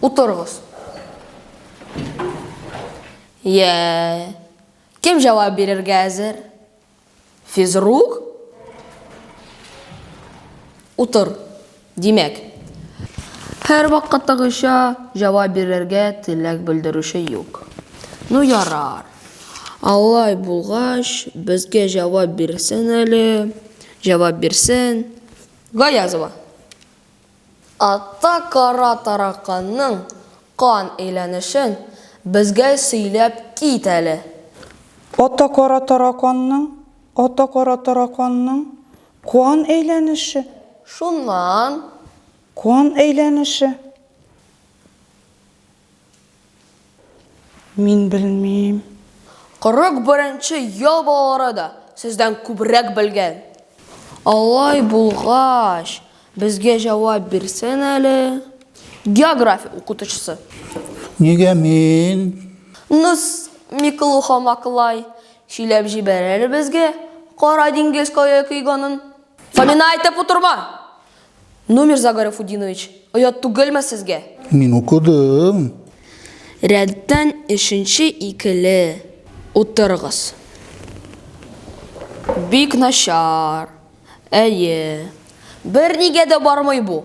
Утыргыз. Йә. Кем җавап бирергә әзер? Физрук? Утыр. Димәк, һәрвакыттагыча җавап бирергә теләк белдерүче юк. Ну ярар. Алай булгач, безгә җавап бирсен әле. Җавап бирсен. Гаязова. Атта кара тараканның кан әйләнешен безгә сөйләп кит әле. Атта кара тараканның, атта кара тараканның Куан әйләнеше. Шуннан. Куан әйләнеше. Мин белмим. 41 нче ял балалары да сездән күбрәк белгән. Алай булгач, безгә җавап бирсен әле. География укытучысы. Нигә мин? Нус, Миклуха-Маклай, Сөйләп җибәр әле безгә Кара диңгез кая койганын. Фамина әйтеп утырма! Номер за Гарифутдинович, оят түгелме сезгә? Мин укыдым. Рәттән өченче икеле утырыгыз. Бик начар. Әйе. Бернигә дә бармый бу.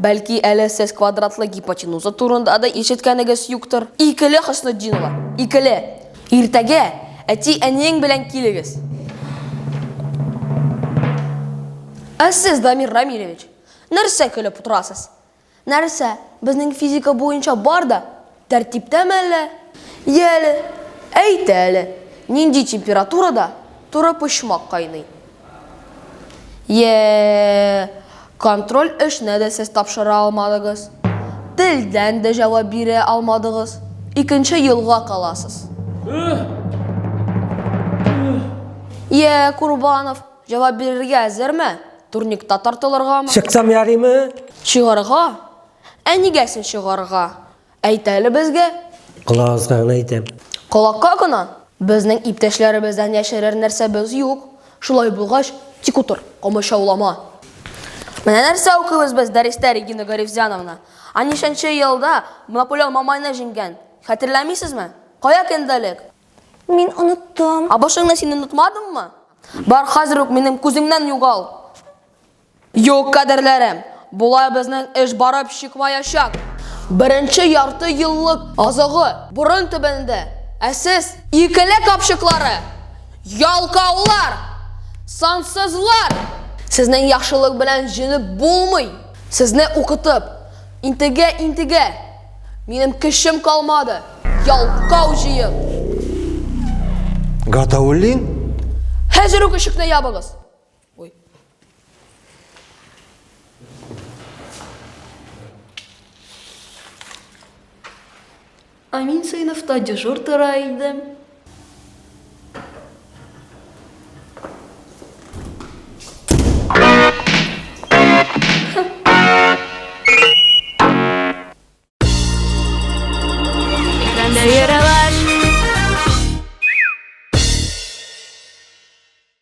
Бәлки әле сез квадратлы гипотенуза турында да ишеткәнегез юктыр? Икеле Хөснетдинова, икеле! Иртәгә әти-әниең белән килегез. Ә сез, Дамир Рамилевич, нәрсә көлеп утырасыз? Нәрсә, безнең физика буенча бар да Тәртиптәме әллә? Йә әле, әйт әле, нинди температурада турыпочмак кайный? Йә, контроль эшенә дә сез тапшыра алмадыгыз, телдән дә җавап бирә алмадыгыз, икенче елга каласыз. Йә, Курбанов, җавап бирергә әзерме? Турникта тартылыргамы? Чыксам ярыймы? Чыгарга Ә нигә син чыгарга? Әйт әле безгә. Колагыгызга гына әйтәм. Колакка гына? Безнең иптәшләребездән яшерер нәрсәбез юк. Шулай булгач, тик утыр, комачаулама. Менә нәрсә укыйбыз без дәрестә, Регина Гарифзяновна. Ә ничәнче елда Наполеон Мамайны җиңгән, хәтерләмисезме? Кая кендәлек? Мин оныттым. Ә башыңны син онытмадыңмы? Бар, хәзер үк минем күземнән югал! Юк, кадерләрем, болай безнең эш барып чыкмаячак. Беренче ярты еллык азыгы борын төбендә, ә сез, икеле капчыклары, ялкаулар, сансызлар! Сезнең яхшылык белән җенеп булмый! Сезне укытып, интегә-интегә, минем көчем калмады, ялкау җыен! Гатауллин? Хәзер үк ишекне ябыгыз! Ой. А мин сыйныфта дежур тора идем.